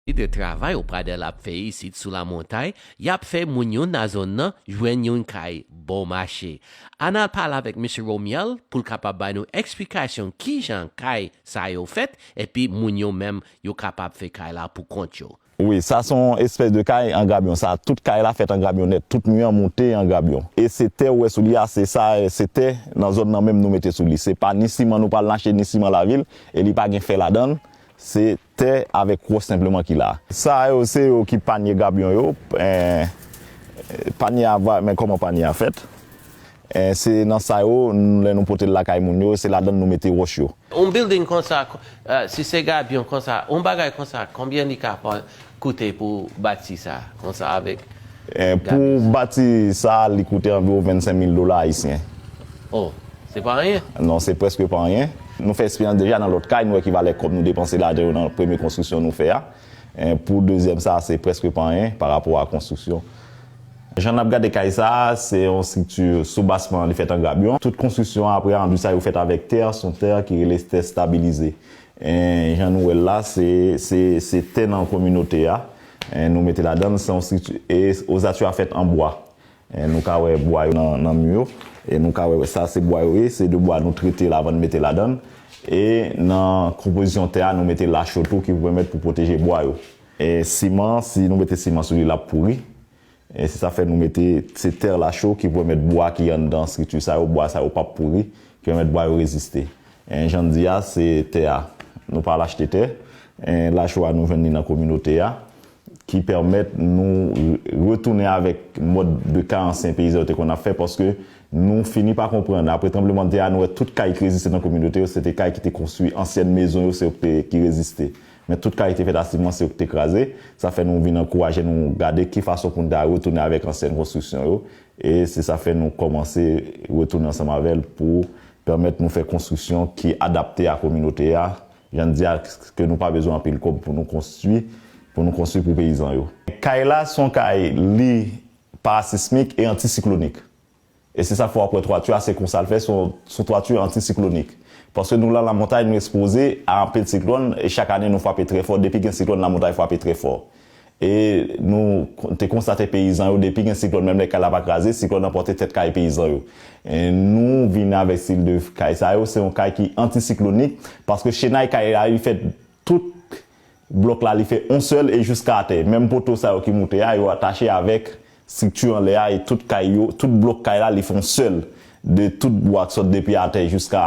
Ki de travay ou Pradel ap fè isit sou la montay yap fè moun yo na zone nan jwenn yon kay bon mache Ann al pale avèk Mesye Romial poul kapab bay nou eksplikasyon kijan kay sa yo fèt epi moun yo menm yo kapab fè kay la pou kont yo. Wi sa son espès de kay an grabyon sa tout kay la fèt an grabyon nèt tout mi an moute an grabyon e se tè ou wè sou li a se sa se tè nan zòn nan menm nou mete sou li se pa ni siman nou pral nache ni siman lavil e li pa gen fè ladanl Se tè avèk wòch senpleman ki la. Sa yo se yo ki panye gabyon yo. Panye a va, men kòman panye a fèt. Se nan sa yo, lè nou pote l lakay moun yo, se ladan l nou mete wòch yo. Yon bilding konsa, si se gabyon konsa, yon bagay konsa, konbyen li ka pran? koute pou bati sa konsa avèk gade sa. Pou bati sa li koute anviwon 25 mil dola ayisyen. O! Se pa anyen? Non se prèske pa anyen. Nou fè eksperyans deja nan lòt kay nou wè ki valè kòb nou depanse lajan yo nan premye konstriksyon nou fè a. Pou dezyèm sa se prèske pa anyen pa rapò a konstriksyon. Jan nap gade kay sa se yon estrikti sou basman li fèt an grabyon. Tout konstriksyon aprè anduit sa yo fèt avèk tè, son tè ki rele tè stabilize. Jan nou wè l la, se tè nan kominote a, nou mete ladan l, se yon estrikti, e ozati yo a fèt an bwa. Nou ka wè bwa yo nan mi yo, e nou ka wè sa se bwa yo ye, se de bwa nou trete l avan nou mete ladan l. E nan konpozisyon tè a, nou mete lache yo tou ki pou pèmèt pou pwoteje bwa yo. Siman, si nou mete siman sou li l ap pouri, E se sa fè nou mete, se terre la chaux ki pèmèt bwa ki anndan strikti sa yo, bwa sa yo pap pouri, ki pèmèt bwa yo reziste. E jan n di a, se tè a, nou pa al achte tè, e la chaux a nou jwenn li nan kominote a, ki pèmèt nou retounen avèk mòd de ka ansyen peyizan yo te konn ap fè paske nou fini pa konprann. Apre tranblemanntè a, nou wè tout kay ki reziste nan kominote yo, se te kay ki te konstwi, ansyèn mezon yo se yo ki te, ki reziste. Men tout kalite fètativman se yo ki te kraze, sa fè nou vin ankouraje nou gade ki fason pou nou ta retounen avèk ansyen konstriksyon yo, e se sa fè nou kòmanse retounen ansanm avè l pou pèmèt nou fè konstriksyon ki adapte a kominote a, jan n di a ke nou pa bezwen anpil kòb pou nou konstwi, pou nou konstwi pou peyizan yo. Kay la se yon kay li parasismik e antisiklonik. E se sa k fè w ap wè twati a se konsa l fè, s on twati antisiklonik. Paske nou lan lamontay nou espoze a anpil siklòn e chak ane nou frape trè fò, depi gen siklòn lamontay frape trè fò. E nou te konstate peyizan yo depi gen siklòn menm lè kay la pa kraze, siklòn nan pòte tèt kaye peyizan yo. Nou vin avèk stil de kay sa yo, se yon kay ki antisiklonik paske chenay kay la li fèt tout. blòk la li fè on sèl e jouska atè. Menm poto sa yo ki moute a, yo atache avèk strikti anlè a e tout kay yo, tout blòk kay la li fè on sèl de tout bwa k sot depi atè jouska.